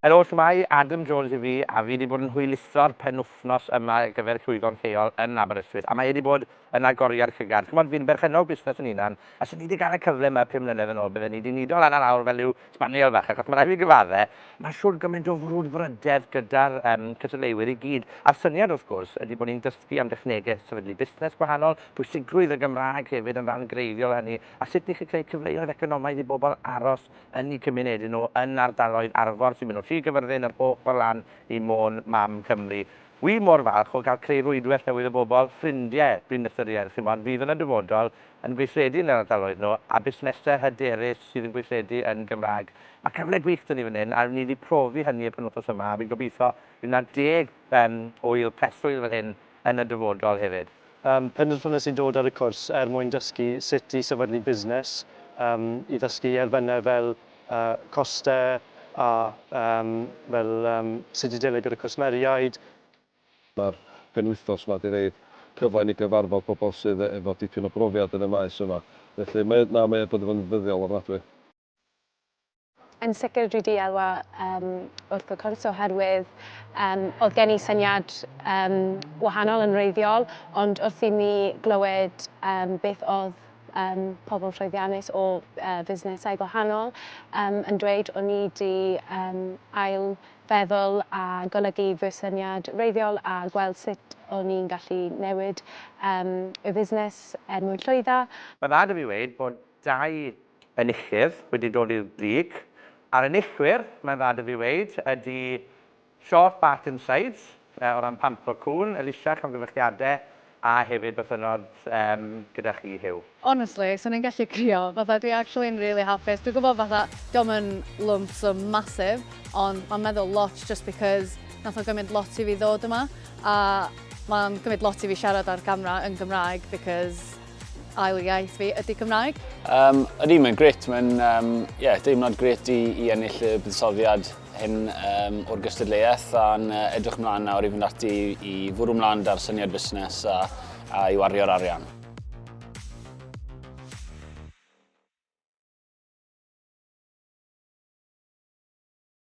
Helo, shwmae, Adam Jones yw fi a fi 'di bod yn hwyluso'r penwythnos yma ar gyfer llwyfan lleol yn Aberystwyth a mae e 'di bod yn agoriad llygad. Ch'mod, fi'n berchennog busnes yn hunan a 'se ni 'di ga'l y cyfle 'ma pum mlynedd yn ôl bydden ni 'di nido lan a lawr fel rhyw sbaniel fach achos ma' rai' fi gyfadde, ma' shwd gymaint o frwdfrydedd gyda'r yym cystadleuwyr i gyd a'r syniad wrth gwrs ydi bo' ni'n dysgu am dechnege sefydlu busnes gwahanol, pwysigrwydd y Gymraeg hefyd yn ran greiddiol o hynny a sut ni 'llu creu cyfleoedd economaidd i bobl aros yn y cymunedyn nhw yn ardaloedd Arfor sy'n mynd o Sir Gyfyrddin yr ochr lan i Môn mam Cymru. Wi mor falch o gael creu rwydwell newydd o bobl, ffrindie, dwi'n ystyried, chimod, fydd yn y dyfodol yn gweithredu yn yr ardaloedd nhw, a busnese hyderus sydd yn gweithredu yn Gymraeg. Mae cyfle gwych da ni fan hyn a wn i di profi hynny y penwthos yma a fi'n gobeithio bydd na deg yym ŵyl preswyl fan hyn yn y dyfodol hefyd. Ym mhenderfynais i dod ar y cwrs er mwyn dysgu sut i sefydlu busnes, ym i ddysgu i erfynau fel costau a ym fel sut i delio gyda cwsmeriaid. Mae'r penwythnos yma 'di rhoi cyfle i ni gyfarfod pobl sydd efo dipyn o brofiad yn y maes yma, felly mae, na, mae o wedi bod yn ddyddiol ofnadwy. Yn sicr dwi di elwa um, wrth y cwrs oherwydd um, oedd gen i syniad um, wahanol yn reiddiol, ond wrth i mi glywed um, beth oedd um, pobl llwyddiannus o uh, fusnesau gwahanol um, yn dweud, o'n i di um, ail feddwl a golygu fy syniad reiddiol a gweld sut o'n i'n gallu newid um, y fusnes er mwyn llwydda. Mae'n dda da fi wneud bod dau enillydd wedi dod i'r brig. A'r enillwyr, mae'n dda 'da fi weud, ydi Short Bark and Sides, yy, o ran pampro cŵn, Elisha, llongyfarchiade, a hefyd bythynnod, yym, gyda chi, Huw. Honestly, swn i'n gallu crio. Fatha, dwi actually yn rili hapus. Dwi'n gwybod fatha, dio'm yn lump sum massive, ond mae'n meddwl lot just because nath o gymryd lot i fi ddod yma, a mae'n cymryd lot i fi siarad ar gamra yn Gymraeg because, Ail iaith fi ydy Cymraeg. Um, ydy, mae'n gret. Mae'n um, yeah, deimlad gret i, i ennill y buddsoddiad hyn um, o'r gystadleuaeth a'n uh, edrych mlaen nawr i fynd ati i fwrw mlaen da'r syniad busnes a, a i wario'r arian.